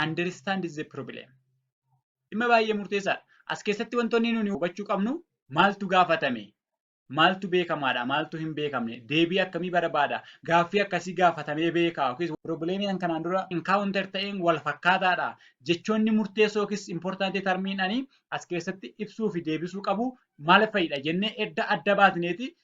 understand the problem. Dhimma baay'ee murteessaadha. As keessatti wantoonni nuti hubachuu qabnu maaltu gaafatame? Maaltu beekamaadha? Maaltu hin beekamne? Deebii akkamii barbaada? Gaaffii akkasii gaafatamee beekaa yookiis piroobileemii kan kanaan dura encounter ta'een wal fakkaataadha. Jechoonni murteessoo yookiis important termiin ani as keessatti ibsuu fi deebisuu qabu maal fa'idha jennee edda adda baasneeti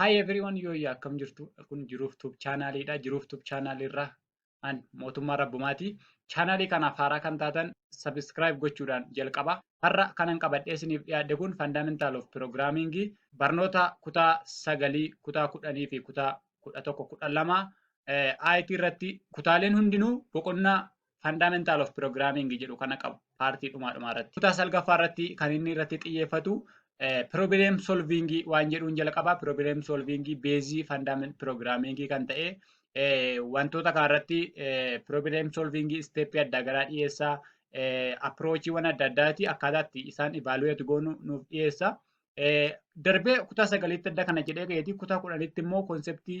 Hi everyone yooyyaa akkam jirtu kun jiruuf tub chaanaaliidha jiruuf tub chaanaaliirraa an mootummaa rabbumaati chaanaalii kanaaf haaraa kan taatan sabiskiraayib gochuudhaan jalqaba har'a kanan qabadhee isiniif dhiyaadhe kun fandaamentaal of piroogiraamingii barnoota kutaa sagalii kutaa kudhanii fi kutaa kudha tokko kudha lama IT irratti kutaaleen hundinuu boqonnaa Fundamental of Programming jedhu kana qabu paartii dhumaa dhumaa irratti. Kutaa salgaffaa irratti kan inni irratti xiyyeeffatu problem solving waan jedhuun jalqaba. Problem solving beezii fundamental programming kan ta'e wantoota kana irratti problem solving step adda garaa dhiyeessa. Approachiiwwan adda addaati akkaataatti isaan evaluate goonu nuuf dhiyeessa. Darbee kutaa sagaliitti adda kana jedhee ga'eeti kutaa kudhanitti immoo konseptii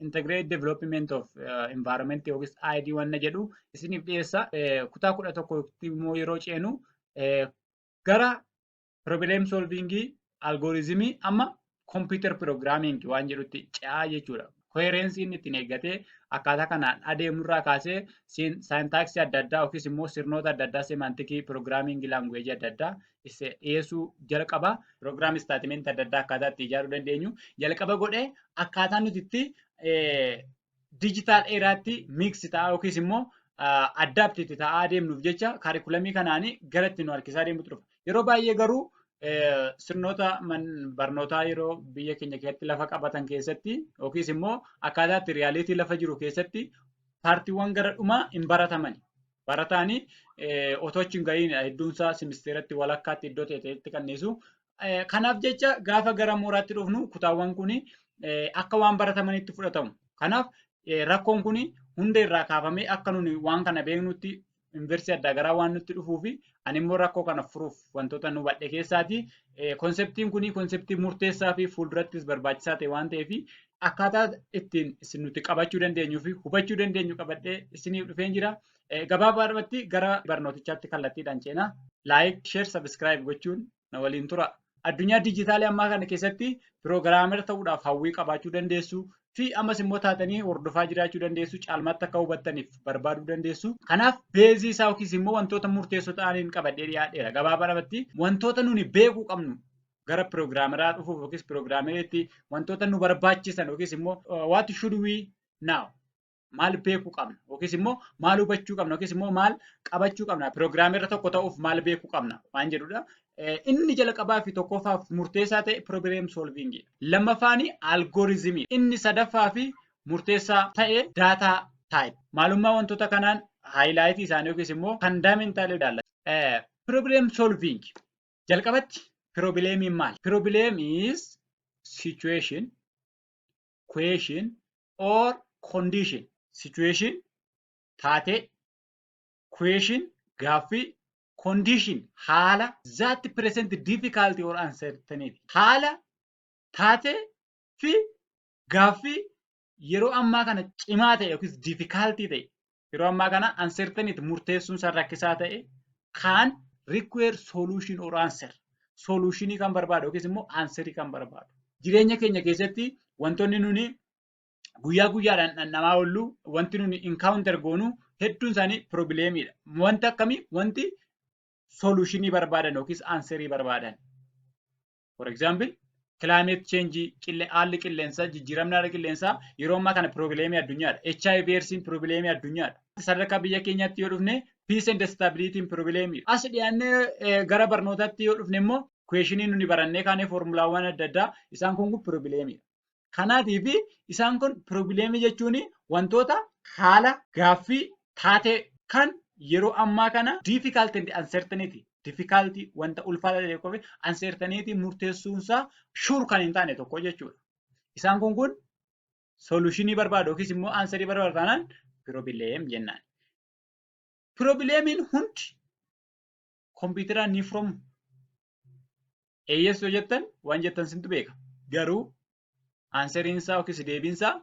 integrate development of environment yookiis ID wanna jedhu isiniif dhiyeessa. Kutaa kudha tokkotti immoo yeroo ceenu gara problem solving algoritmii amma computer programming waan jedhutti ce'aa jechuudha. Koherensii inni ittiin eeggatee akkaataa kanaan adeemurraa kaasee saayintaaksii adda addaa yookiis immoo sirnoota adda addaa semantikii programming language adda addaa dhiyeessuu jalqaba. Pirogiraamii istaatimentii adda addaa akkaataa itti ijaaruu dandeenyu jalqaba godhee akkaataa nuti itti diijitaal eeraatti miiksi ta'aa yookiis immoo addaapti itti ta'aa deemnuuf jecha kaarikulamii kanaan gara itti nu harkisaa deemutu dhufa. Yeroo baay'ee garuu sirnoota barnootaa yeroo biyya keenya keessatti lafa qabatan keessatti yookiis immoo akkaataa itti riyaaliitii lafa jiru keessatti paartiiwwan gara dhumaa hin baratamani. Barataan otoo achi hin gahiin hedduun isaa simisteeratti walakkaatti iddoo ta'etti kan dhiisu. Kanaaf jecha gaafa gara mooraatti dhufnu kutaawwan kun akka waan baratamanitti fudhatamu. Kanaaf rakkoon kun hunda irraa kaafamee akka nuni waan kana beeknutti yuunivarsiitii adda garaa waan nutti dhufuu fi ani immoo rakkoo kana furuuf wantoota nu badhe keessaati. Konseptiin kun konseptii murteessaa fi fuuldurattis barbaachisaa ta'e waan ta'eef akkaataa ittiin isin nuti qabachuu dandeenyuu fi hubachuu dandeenyu qabadhee isiniif dhufeen jira. Gabaabaadhumatti gara barnootichaatti kallattiidhaan ceena. Laayik, sheer, sabiskiraayib gochuun na waliin tura. Addunyaa diijitaalii ammaa kana keessatti piroogiraamera ta'uudhaaf hawwii qabaachuu dandeessu fi ammas immoo taatanii hordofaa jiraachuu dandeessu caalmaatti akka hubattaniif barbaaduu dandeessu. Kanaaf beezii isaa yookiis immoo wantoota murteessoo ta'aniin qabadhee dhiyaadheera. Gabaabaadhumatti wantoota nuni beekuu qabnu gara piroogiraamaraa dhufuuf yookiis piroogiraameriitti wantoota nu barbaachisan yookiis immoo what should we now maal beekuu qabna yookiis immoo maal hubachuu qabna yookiis immoo maal qabachuu qabna piroogiraamera tokko ta'uuf maal beekuu qabna waan jedhudha. Inni jalqabaa fi tokkoffaaf murteessaa ta'e piroogiraam soolviingii. Lammaffaan algooriizimii. Inni sadaffaa fi murteessaa ta'e daataa taayip. Maalummaa wantoota kanaan haayilaayitii isaanii yookiis immoo fandaamentaala ilaalla. Piroogiraam soolviingii. Jalqabatti pirobileemiin maali? Pirobileem is situation, question or condition. Situation taatee, question gaaffii, condition haala that present difficulty or uncertainty. Haala taatee fi gaaffii yeroo ammaa kana cimaa ta'e yookiis difficulty ta'e yeroo ammaa kana uncertainty murteessuun isaa rakkisaa ta'e kan require solution or answer solutionii kan barbaadu yookiis immoo answerii kan barbaadu. Jireenya keenya keessatti wantoonni nuni guyyaa guyyaadhaan dhandhamaa oollu wanti nuni encounter goonu hedduun isaanii probleemiidha. Wanti akkamii wanti solutionii barbaadan yookiis answerii barbaadan. For example, climate change qille haalli qilleensaa jijjiiramni haala qilleensaa yeroo ammaa kana piroobileemii addunyaadha. HIV eedsiin piroobileemii addunyaadha. Sadarkaa biyya keenyaatti yoo dhufne peace and stability piroobileemii. As dhiyaannee gara barnootaatti yoo dhufne immoo kuweeshinii nuni barannee kaanee foormulaawwan adda addaa isaan kun piroobileemiidha. Kanaatiif isaan kun piroobileemii jechuun wantoota haala gaaffii taatee kan yeroo ammaa kana difficult and uncertainty difficulty wanta ulfaataa ta'e tokkoo fi uncertainty murteessuun isaa sure kan hin taane tokko jechuudha. Isaan kun kun solutionii barbaadu yookiis immoo aansarii barbaadu taanaan piroobileem jennaan. Piroobileemiin hundi kompiitaraan ni furamu? Eeyyes yoo jettan waan jettan sintu beeka. Garuu aanseriin isaa yookiis deebiin isaa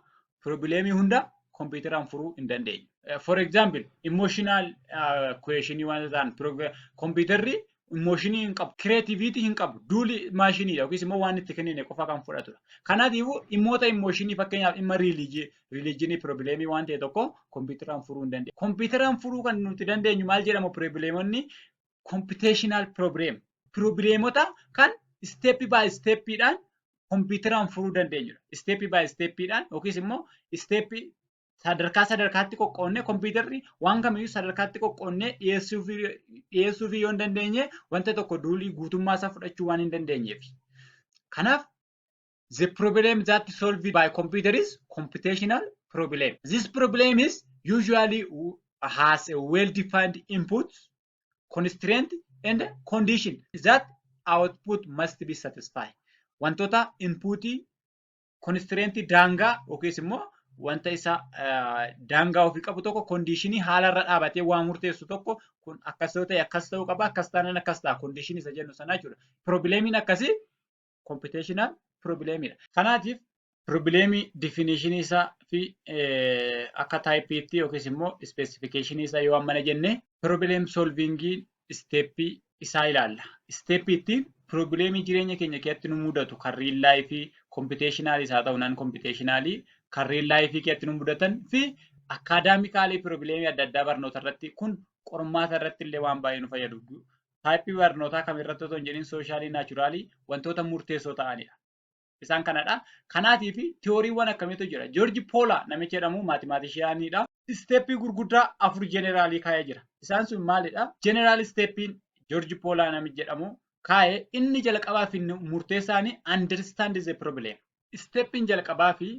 piroobileemii hunda kompiitaraan furuu hin dandeenyu. For example, emotional questionii waan ta'an kompiitarri immooshinii hin qabu, kireetiviitii hin qabu, duuli maashiniidha yookiis immoo waan itti kennine qofa kan fudhatudha. Kanaatiifuu dhimmoota immooshinii fakkeenyaaf dhimma riilijii, riiliijinii piroobileemii waan ta'e tokko kompiitaraan furuu hin dandeenyu. Kompiitaraan furuu kan nuti dandeenyu maal jedhamu piroobileemonni kompiteeshinaal piroobileem. Piroobileemota kan isteeppii baay isteeppiidhaan kompiitaraan furuu dandeenyudha. Isteeppii baay isteeppiidhaan yookiis immoo isteeppii sadarkaa sadarkaatti qoqqoodnee kompiitarri waan kamiyyuu sadarkaatti qoqqoodnee dhiyeessuuf yoo hin dandeenye wanta tokko duulii guutummaa isaa fudhachuu waan hin dandeenyeef. Kanaaf The problem that solved by computer is computational problem. This problem is usually has a well-defined input, constraint, and condition that output must be satisfied. Wantoota inputii, constraint daangaa yookiis immoo wanta isa daangaa ofii qabu tokko kondiishinii haala irra dhaabatee waa murteessu tokko kun akkas yoo ta'e akkas ta'uu qaba akkas taanaan akkas ta'a kondiishinii isa jennu sanaa jechuudha. Piroobileemiin akkasii computational problem dha. Kanaatiif piroobileemii difinishinii isaa fi akka taayipiitti yookiis immoo ispeesifikeeshinii isaa yoo ammana jenne piroobileem solviingii isteeppii isaa ilaalla. Isteeppii itti piroobileemii jireenya keenya keessatti nu mudatu kan riil laayifii kompiteeshinaalis haa ta'u naan kompiteeshinaalii kan riil laayifii keessatti nu mudatan fi akkaadaamikaalii piroobileemii adda addaa barnoota irratti kun qormaata irratti illee waan baay'ee nu fayyadu. taayippii barnootaa kam irratti otoo hin jedhin sooshaalii naachuraalii wantoota murteessoo ta'anidha. Isaan kanadha. Kanaatiif tiyooriiwwan akkamiitu jira. Joorji Poolaa namichi jedhamu maatimaatishiyaaniidha. Isteeppii gurguddaa afur jeneraalii kaa'ee jira. Isaan sun maalidha? Jeneraal isteeppiin Joorji Poolaa namichi jedhamu kaa'e inni jalqabaa fi murteessaan understand the problem. Isteeppiin jalqabaa fi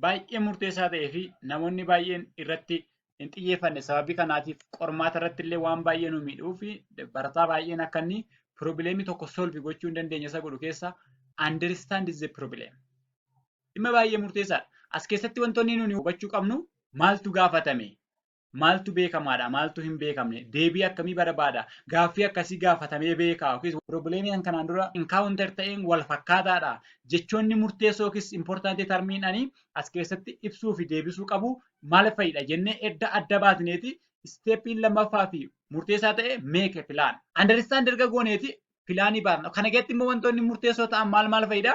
baay'ee murteessaa ta'ee fi namoonni baay'een irratti hin xiyyeeffanne sababii kanaatiif qormaata irratti illee waan baay'ee nu miidhuu fi barataa baay'een akka inni piroobileemii tokko solvi gochuu hin dandeenye isa godhu keessaa understand is the problem. Dhimma baay'ee murteessaadha. As keessatti wantoonni nuti hubachuu qabnu maaltu gaafatame? Maaltu beekamaadha? Maaltu hin beekamne? Deebii akkamii barbaada? Gaaffii akkasii gaafatamee beekaa? Yookiis piroobileemii kan kanaan dura encounter ta'een wal fakkaataadha? Jechoonni murteessoo yookiis important termiin ani as keessatti ibsuu fi deebisuu qabu maal fa'idha jennee edda adda baasneeti isteeppiin lammaffaa fi murteessaa ta'e make a plan. Understand erga gooneeti pilaanii baasna. Kana keessatti immoo wantoonni murteessoo ta'an maal maal fa'idha?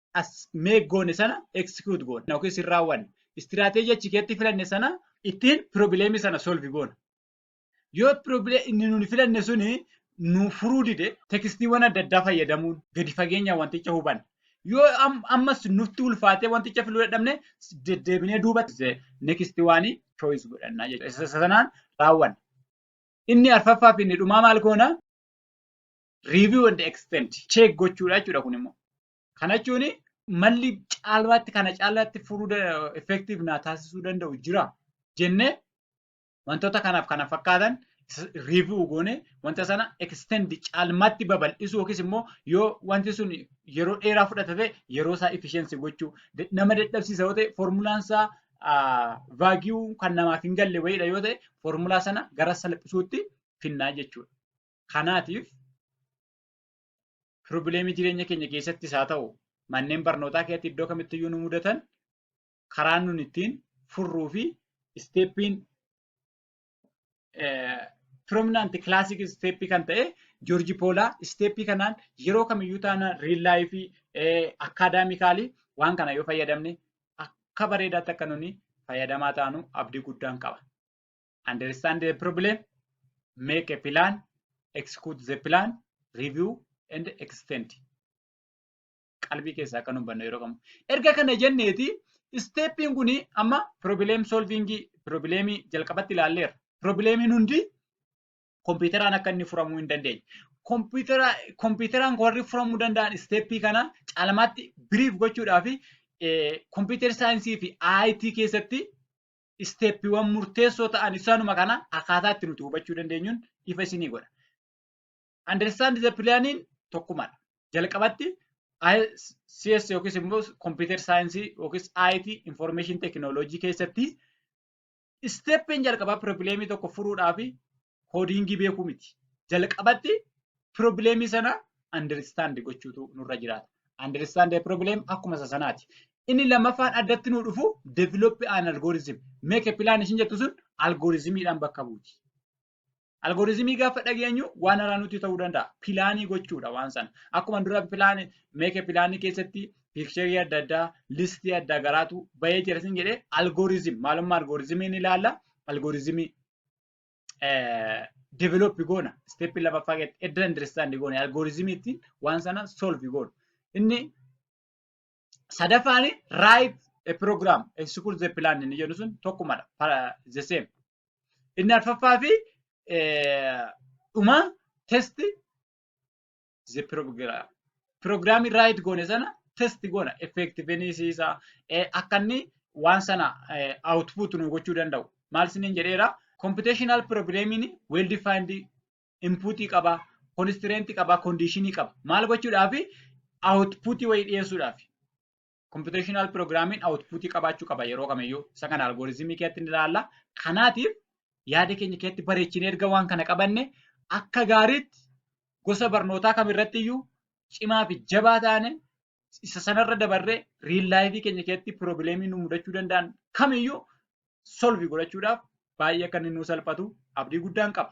as make goone sana execute goona yookiis hin raawwanne. Istiraateejii achi keessatti filanne sana ittiin piroobileemii sana solvi goona. Yoo piroobilee inni nuti filanne suni nu furuu dide tekstiiwwan adda addaa fayyadamuun gadi fageenya wanticha hubanna. Yoo ammas nutti ulfaatee wanticha filuu dadhabne deddeebinee duubatti nekisti waanii choice godhanna jechuudha. Isa sanaan raawwanna. Inni arfaffaa fi inni dhumaa maal goona? review and extend check gochuudha jechuudha kun immoo. Kana jechuun malli caalmaatti kana caalaatti furuu da- effective naa taasisuu danda'u jira jennee wantoota kanaaf kana fakkaatan review goone wanta sana extend caalmaatti babal'isuu yookiis immoo yoo wanti sun yeroo dheeraa fudhata ta'e yeroo isaa efficiency gochuu Da- nama dadhabsiisa yoo ta'e formulaan isaa vaagiyuu kan namaaf hin galle wayiidha yoo ta'e formulaa sana gara salphisuutti finnaa jechuudha. Kanaatiif piroobileemii jireenya keenya keessattis haa ta'u manneen barnootaa keessatti iddoo kamittiyyuu nu mudatan karaan nun ittiin furruu fi isteeppiin piroominaanti kilaasik isteeppii kan ta'e Joorji Poolaa isteeppii kanaan yeroo kamiyyuu taanaan riil laayifii akkaadaamikaalii waan kana yoo fayyadamne akka bareedaatti akka nuni fayyadamaa taanu abdii guddaan qaba. understand the problem, make a plan, execute the plan, review and extend. Qalbii keessaa akka nu hubannu yeroo qabnu. Erga kana jenneeti isteeppiin kun amma problem solving problemii jalqabatti ilaalleerra. Problemiin hundi kompiitaraan akka inni furamuu hin dandeenye. Kompiitaraan warri furamuu danda'an isteeppii kana caalmaatti biriif gochuudhaa fi kompiitar saayinsii fi IT keessatti isteeppiiwwan murteessoo ta'an isaanuma kana akkaataa itti nuti hubachuu dandeenyuun ifa isinii godha. Understand the planning tokkumadha. Jalqabatti CS yookiis immoo kompiitar saayinsii yookiis IT information technology keessatti isteeppiin jalqabaa piroobileemii tokko furuudhaa fi koodiingii beekuu miti. Jalqabatti piroobileemii sana understand gochuutu nurra jiraata. Understand the problem akkuma isa sanaati. Inni lammaffaan addatti nuu dhufu develop an algorithm. Make a plan ishin jettu sun algoritmiidhaan bakka buuti. Algoritmii gaafa dhageenyu waan haraa nutti ta'uu danda'a. Pilaanii gochuudha waan sana. Akkuma dura pilaanii meeke pilaanii keessatti piikcherii adda addaa listii adda garaatu bahee jira sin jedhee algoritm maalummaa algoritmii ni ilaalla. Algoritmii develop goona step lamaffaa keessatti edda understand goone algorithm ittiin waan sana solve goonu inni sadaffaan right a program execute the plan inni jedhu sun tokkumadha para- the same inni arfaffaa fi eh, dhuma test is a program. Program write goone sana test goona effectiveness isa eh, akka inni waan sana eh, output nu gochuu danda'u. Maal isiniin jedheera? Computational programming well defined input qaba, constraint qaba, condition qaba. Maal gochuudhaafi? Output wayii dhiyeessuudhaafi. Computational Programming outputii qabaachuu qaba yeroo kamiyyuu. Isa kana algoritmii keessatti ni ilaalla. Kanaatiif yaada keenya keessatti bareechinee erga waan kana qabanne akka gaariitti gosa barnootaa kamirratti iyyuu cimaa fi jabaa taane isa sanarra dabarree riil laayifii keenya keessatti piroobileemii nu mudachuu danda'an kamiyyuu solvi godhachuudhaaf baay'ee akka inni nu salphatu abdii guddaan qaba.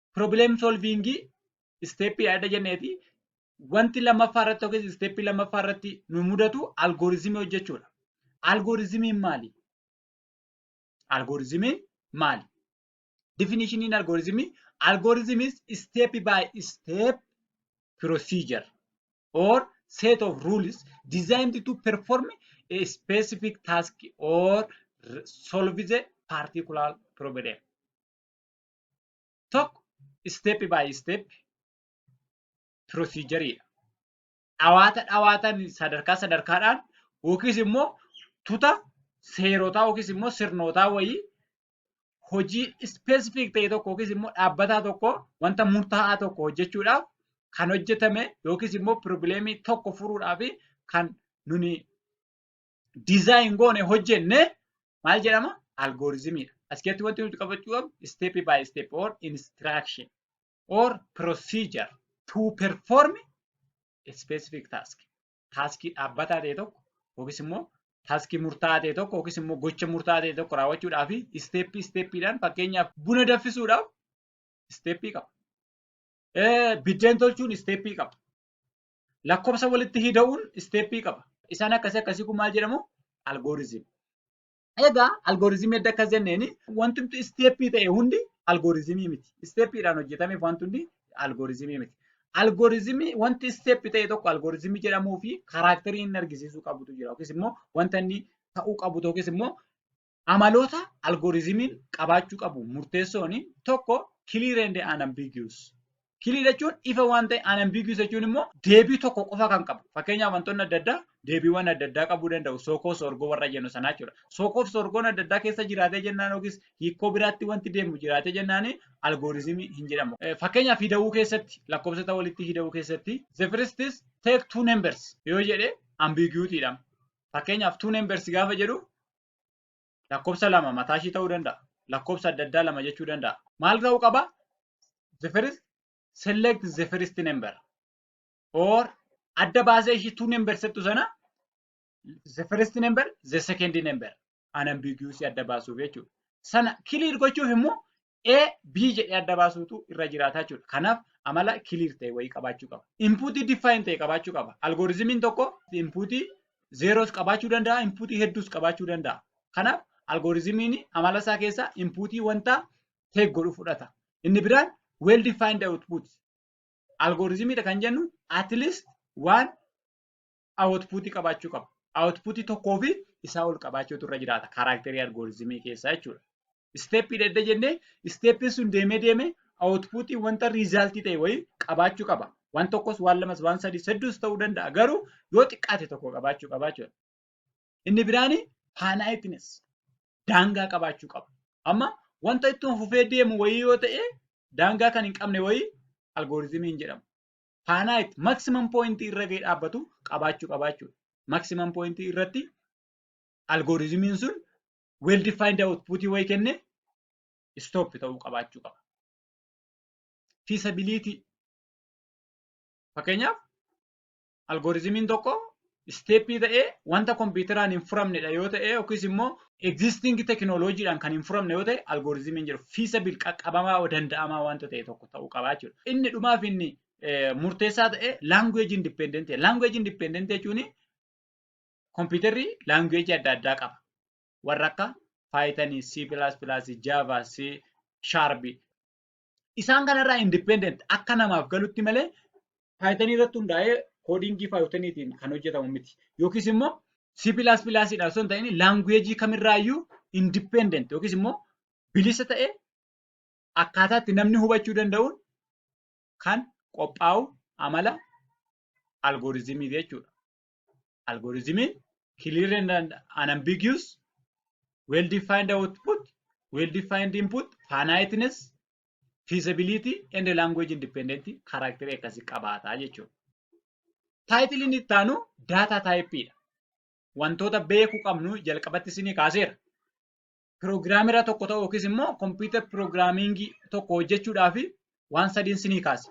problem solving isteeppii adda jenneeti wanti lammaffaa irratti yookiis isteeppii lammaffaa irratti nu mudatu algorizimii hojjechuudha. Algorizimiin maali? Algorizimiin maali? Definitioniin algorizimii algorithmis step by step procedure or set of rules designed to perform a specific task or solve the particular problem. tokko isteeppi baay isteeppi piroosiijariidha. Dhawaata dhawaataan sadarkaa sadarkaadhaan yookiis immoo tuta seerotaa yookiis immoo sirnootaa wayii hojii ispeesifiik ta'e tokko yookiis immoo dhaabbataa tokko wanta murtaa'aa tokko hojjechuudhaaf kan hojjetame yookiis immoo piroobileemii tokko furuudhaaf kan nuni dizaayin goone hojjenne maal jedhama? Algoorizimiidha. As keessatti wanti nuti qabachuu qabnu step by step or instruction or procedure to perform a specific task. Taaskii dhaabbataa ta'e tokko yookiis immoo taaskii murtaa'aa ta'e tokko yookiis immoo gocha murtaa'aa ta'e tokko raawwachuudhaaf isteeppii isteeppiidhaan fakkeenyaaf buna danfisuudhaaf isteeppii qaba. Biddeen tolchuun isteeppii qaba. Lakkofsa walitti hida'uun isteeppii qaba. Isaan akkasii akkasii kun maal jedhamu? Algoorizim. Egaa algoorizimii edda akkas jenneen wanti nuti isteeppii ta'e hundi algoorizimii miti. Isteeppiidhaan hojjetameef wanti hundi algoorizimii miti. Algoorizimii wanti isteeppi ta'e tokko algoorizimii jedhamuu fi karaakterii inni argisiisuu qabutu jira yookiis immoo wanta inni ta'uu qabu yookiis immoo Amaloota algorizimiin qabaachuu qabu murteessoon tokko clear and unambiguous. Clear jechuun ifa waan ta'e unambiguous jechuun immoo deebii tokko qofa kan qabu. Fakkeenyaaf wantoonni adda addaa deebiiwwan adda addaa qabuu danda'u. Sookoo soorgoo warra jennu sanaa jechuudha. Sookoof soorgoon adda addaa keessa jiraatee jennaan yookiis hiikoo biraatti wanti deemu jiraatee jennaan algorizimii hin jedhamu. Fakkeenyaaf hidawuu keessatti lakkoofsota walitti hidawuu keessatti the first is take two numbers yoo jedhe ambiguity dha. Fakkeenyaaf two numbers gaafa jedhu Lakkoofsa lama mataa ishii ta'uu danda'a. Lakkoofsa adda addaa lama jechuu danda'a. Maal ta'uu qaba? The first select the first number or adda baasee ishii two number settu sana the first number the second number unambiguous adda baasuuf jechuudha. Sana clear gochuuf immoo A, B jedhee adda baasuutu irra jiraata jechuudha. Kanaaf amala clear ta'e wayii qabaachuu qaba. Inpuutii define ta'e qabaachuu qaba. Algorizimiin tokko inpuutii zeeroos qabaachuu danda'a, inpuutii hedduus qabaachuu danda'a. Kanaaf algorizimiin amala isaa keessaa inpuutii wanta take godhu fudhata. Inni biraan well defined output. Algorizimiidha kan jennu at least waan awutpuutii qabaachuu qaba. Awutpuutii tokkoo fi isaa ol qabaachuutu irra jiraata kaaraakterii algooriizimii keessaa jechuudha. Isteeppii dhedde jennee isteeppiin sun deemee deemee awutpuutii wanta riizaaltii ta'e wayii qabaachuu qaba. Waan tokkos waan lamas waan sadii hedduus ta'uu danda'a garuu yoo xiqqaate tokko qabaachuu qaba jechuudha. Inni biraan faanaayitinis daangaa qabaachuu qaba. Amma wanta ittuma fufee deemu wayii yoo ta'e daangaa kan hin qabne wayii algooriizimii hin jedhamu. faanaayitti maksimam pooyintii irra ga'ee dhaabbatu qabaachuu qabaachuudha. Maksimam pooyintii irratti algooriizimiin sun well defined output wayi kenne stop ta'uu qabaachuu qaba. Feasibility fakkeenyaaf algooriizimiin tokko isteeppii ta'ee wanta kompiitaraan hin furamnedha yoo ta'e yookiis immoo egzistingi tekinooloojiidhaan kan hin furamne yoo ta'e algooriizimiin jiru fiisabil qaqqabamaa danda'amaa wanta ta'e tokko ta'uu qabaa jechuudha. Inni dhumaaf inni murteessaa ta'e laanguweeji indipeendentee. Laanguweeji indipeendentee jechuun kompiitarri laanguweeji adda addaa qaba. Warra akka Paayitanii, C++, Java, C, Sharp isaan kanarraa independent akka namaaf galutti malee Python irratti hundaa'ee koodiingii Pythoniitiin kan hojjetamu miti. Yookiis immoo C++ dhaan osoo hin ta'in laanguweejii kamirraayyuu independent yookiis immoo bilisa ta'e akkaataa itti namni hubachuu danda'uun kan qophaa'u amala algooriizimii jechuudha. algorithm clear and unambiguous well defined output well defined input finiteness feasibility and language independent karakterii akkasii qabaata jechuudha. Taayitiliin itti aanu daataa taayippiidha. Wantoota beekuu qabnu jalqabatti isinii kaaseera. Piroogiraamira tokko ta'u yookiis immoo kompiitar piroogiraamingii tokko hojjechuudhaaf waan sadiin isinii kaase.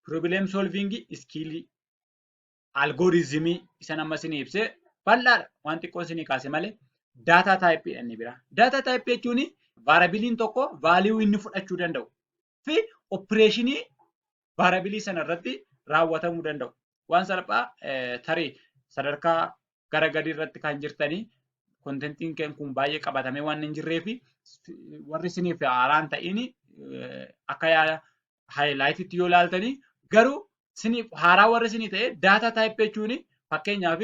Piroobileem solviingii iskiilii. algooriizimii isan amma isinii ibse bal'aadha. Waan xiqqoo isinii kaase malee daataa taayippii inni biraa. Daataa taayippii jechuun vaarabiliin tokko vaaliyuu inni fudhachuu danda'u fi opireeshinii vaarabilii sana irratti raawwatamuu danda'u. Waan salphaa tarii sadarkaa gara gadii irratti kan jirtanii kontentiin keen kun baay'ee qabatamee waan hin jirree fi warri isiniif haaraan ta'iin akka yaada highlight yoo laaltanii garuu siniif haaraa warri sinii ta'e data type jechuun fakkeenyaaf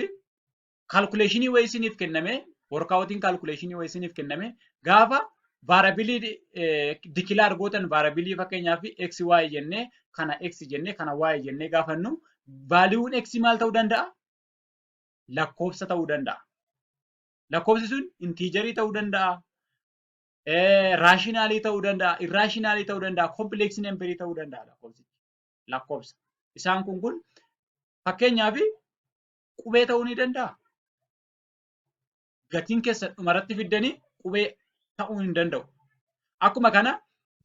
calculation wayii siniif kenname workoutiin calculation wayii siniif kenname gaafa vaarabilii dikilaar gootan vaarabilii fakkeenyaaf x y jennee kana x jennee kana y jennee gaafannu vaaliiwuun x maal ta'uu danda'a? Lakkoofsa ta'uu danda'a. Lakkoofsi sun intiijarii ta'uu danda'a. raashinaalii ta'uu danda'a, irraashinaalii ta'uu danda'a, kompileeksii namberii ta'uu danda'a lakkoofsi. Lakkoofsa. Isaan kun kun fakkeenyaaf qubee ta'uu ni danda'a. Gatiin keessan dhumarratti fiddanii qubee ta'uu hin danda'u. Akkuma kana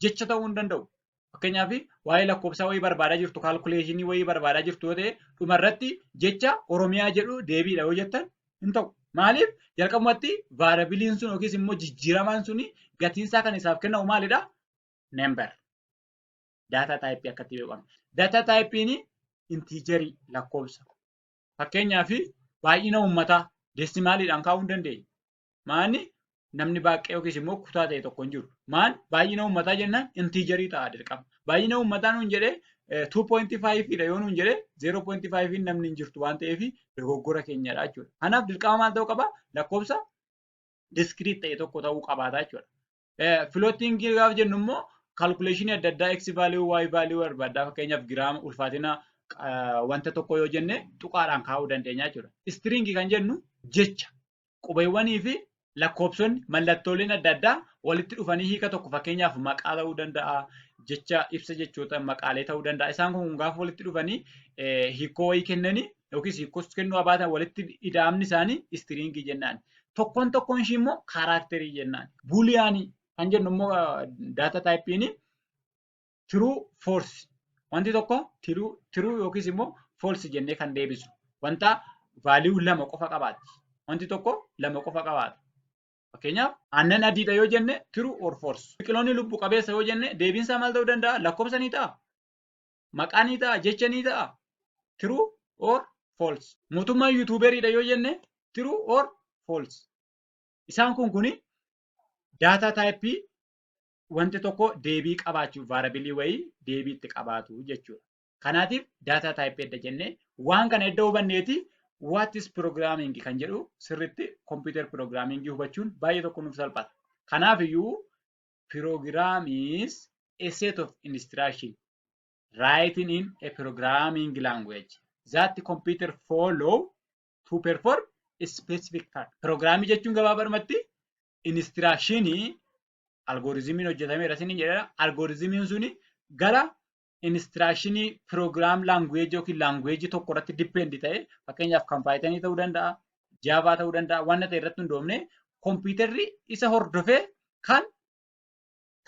jecha ta'uu hin danda'u. Fakkeenyaaf waa'ee lakkoofsaa wayii barbaadaa jirtu kaalkuleeshinii wayii barbaadaa jirtu yoo ta'e dhumarratti jecha Oromiyaa jedhu deebiidha yoo jettan hin ta'u. Maaliif jalqabumatti vaarabiliin sun yookiis immoo jijjiiramaan suni gatiinsaa kan isaaf kennamu maalidha? Member. Daataa taayipii akkatti beekamu. Daataa taayipiin intiijarii lakkoofsa. Fakkeenyaaf baay'ina uummataa deesimaaliidhaan kaa'uu hin dandeenye. Maanni namni baay'ee yookiis immoo kutaa ta'e tokko hin jiru. Maan baay'ina uummataa jennaan intiijarii ta'a dirqama. Baay'ina uummataa nuun jedhee 2.5 dha yoo nuun jedhee 0.5 namni hin jirtu waan ta'eef dogoggora keenyadha jechuudha. Kanaaf dirqama maal ta'uu qaba? Lakkoofsa diskiriit ta'e tokko ta'uu qabaata jechuudha. Filootiingii gaafa jennu immoo kaalkuleeshinii adda addaa x vaaliyuu y vaaliyuu barbaaddaa fakkeenyaaf giraama ulfaatina wanta tokko yoo jenne tuqaadhaan kaa'uu dandeenya jechuudha. Istiriingii kan jennu jecha qubeewwanii fi lakkoofsonni mallattooleen adda addaa walitti dhufanii hiika tokko fakkeenyaaf maqaa ta'uu danda'a jecha ibsa jechoota maqaalee ta'uu danda'a isaan kun gaafa walitti dhufanii hiikoo wayii kennanii yookiis hiikkoos kennuu haa baatan walitti ida'amni isaanii istiriingii jennaan. Tokkoon tokkoon ishii immoo kaaraakterii jennaan. Buuliyaanii kan jennu immoo daata taayipiin tiruu foorsi. Wanti tokko tiruu yookiis immoo foorsi jennee kan deebisu. Wanta vaaliyuu lama qofa qabaatti. Wanti tokko lama qofa qabaata. Fakkeenyaaf aannan adiidha yoo jenne tiruu or foorsi. Biqiloonni lubbu qabeessa yoo jenne deebiinsaa maal ta'uu danda'a? Lakkoofsa ni ta'a. maqaa ni ta'a jecha ni ta'a true or false mootummaan yuutuuberiidha yoo jenne true or false isaan kun kuni daataa taayippii wanti tokko deebii qabaachuuf vaarabilii wayii deebii itti qabaatu jechuudha. Kanaatiif daataa taayippii edda jennee waan kana edda hubanneeti what is programming kan jedhu sirriitti computer programming hubachuun baay'ee tokko nuuf salphata. Kanaaf iyyuu Program is a set of instruction written in a programming language that the computer follow to perform a specific task. Pirogiraamii jechuun gabaabadhumatti inistiraakshini algorizimiin hojjetameera isin jedhera. Algorizimiin suni gara inistiraakshini program language yookiin language tokko irratti depend ta'e fakkeenyaaf kan Python ta'uu danda'a, Java ta'uu danda'a, wanta ta'e irratti hundoofne kompiitarri isa hordofee kan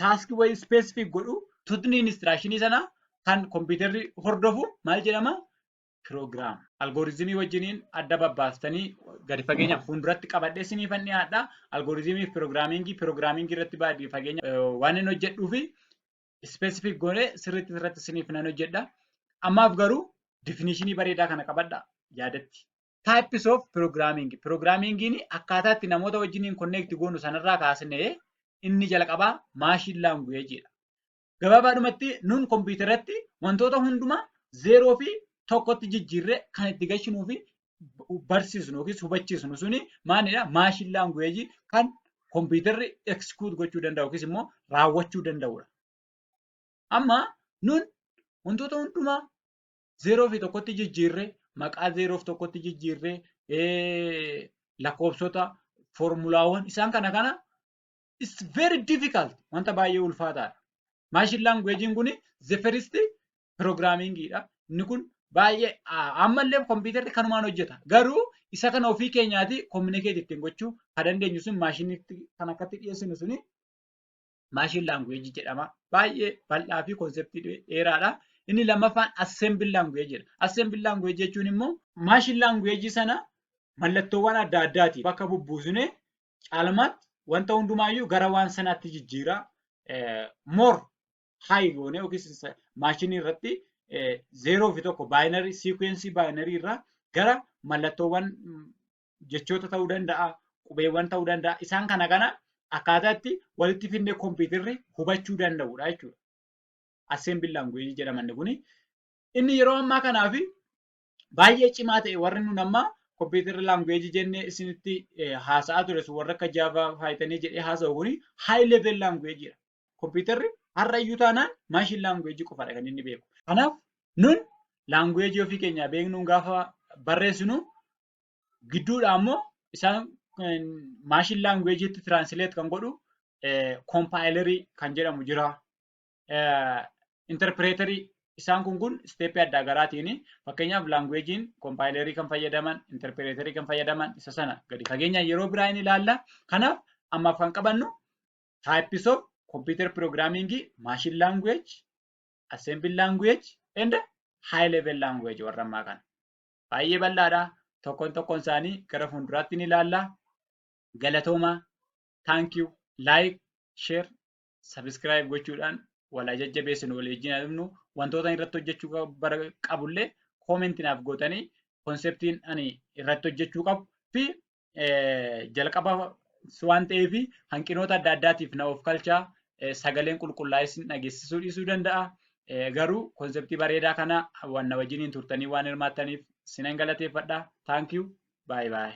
taaskii wayii specific godhu tutni inistiraakshini sana kan kompiitarri hordofu maal jedhama? Program. Algoritmii wajjiniin adda babbaastanii gadi fageenya fuulduratti qabadhee siniifan dhiyaadha. Algoritmii fi piroogiraamingii piroogiraamingii irratti baay'ee fageenya waan hin hojjedhuu fi specific goone sirriitti irratti isiniif nan hojjedha. Ammaaf garuu definishinii bareedaa kana qabadha yaadatti. Types of programming. Programmingiin akkaataa itti namoota wajjiniin connect goonu sanarraa kaasnee inni jalqabaa machine language dha. Gabaabaadhumatti nun kompiitaratti wantoota hundumaa zeeroo fi tokkotti jijjiirree kan itti gashinuu fi barsiisnu yookiis hubachiisnu suni maalidha? Maashin laanguweejii kan kompiitarri eksikuut gochuu danda'u yookiis immoo raawwachuu danda'udha. Amma nun wantoota hundumaa zeeroo fi tokkotti jijjiirree maqaa zeeroo fi tokkotti jijjiirree lakkoofsota foormulaawwan isaan kana kana it's very difficult wanta baay'ee ulfaataadha. Maashin laanguweejiin kun the first programming dha. Inni kun baay'ee ammallee kompiitarri kanumaan hojjeta. Garuu isa kana ofii keenyaati kominikeeti ittiin gochuu kan dandeenyu sun maashinitti kan akkatti dhiyeessinu suni maashin laanguweejii jedhama. Baay'ee bal'aa fi konseptii dheeraadha. Inni lammaffaan assembil laanguweejiidha. Assembil laanguweejii jechuun immoo maashin laanguweejii sana mallattoowwan adda addaati bakka bubbuusnee caalmaatti wanta hundumaayyuu gara waan sanaatti jijjiira. Mor haayi goone yookiis maashinii irratti zeeroo fi tokko baayinarii siikuweensii baayinarii irraa gara mallattoowwan jechoota ta'uu danda'a, qubeewwan ta'uu danda'a. Isaan kana kana akkaataa itti walitti fidnee kompiitarri hubachuu danda'udha jechuudha. Assembly language jedhamanni kuni. Inni yeroo ammaa kanaafi baay'ee cimaa ta'e warri nun amma kompiitarri laanguweejii jennee isinitti haasa'aa ture sun warra akka jaavaa faayitanii jedhee haasa'u kuni haay level laanguweejiidha. Kompiitarri har'a iyyuu taanaan maashin laanguweejii qofaadha kan inni beeku. Kanaaf nun laanguweejii ofii keenyaa beeknuun gaafa barreessinu gidduudha ammoo isaan maashin laanguweejiitti tiraansileet kan godhu koompaayilarii kan jedhamu jira. interpreterii isaan kun kun isteeppii adda garaatiin fakkeenyaaf laanguweejiin kompaayilerii kan fayyadaman interpreterii kan fayyadaman isa sana gadi fageenya yeroo biraa hin ilaalla. Kanaaf ammaaf kan qabannu types of computer programming machine language assembly language and high level language warra ammaa kana. Baay'ee bal'aadha. Tokkoon tokkoon isaanii gara fuulduraatti ni ilaalla. Galatooma. Thank you. Like, share. sabiskiraayib gochuudhaan walaa jajjabeessinu walii wajjin adumnu wantoota irratti hojjechuu qabullee koomenti naaf gootanii konseptiin ani irratti hojjechuu qabu fi jalqaba waan ta'eef hanqinoota adda addaatiif na of kalchaa sagaleen qulqullaa'es dhageessisuu dhiisuu danda'a. Garuu konseptii bareedaa kana wanna wajjiniin turtanii waan hirmaattaniif sinan galateeffadha. Thank you. Bye bye.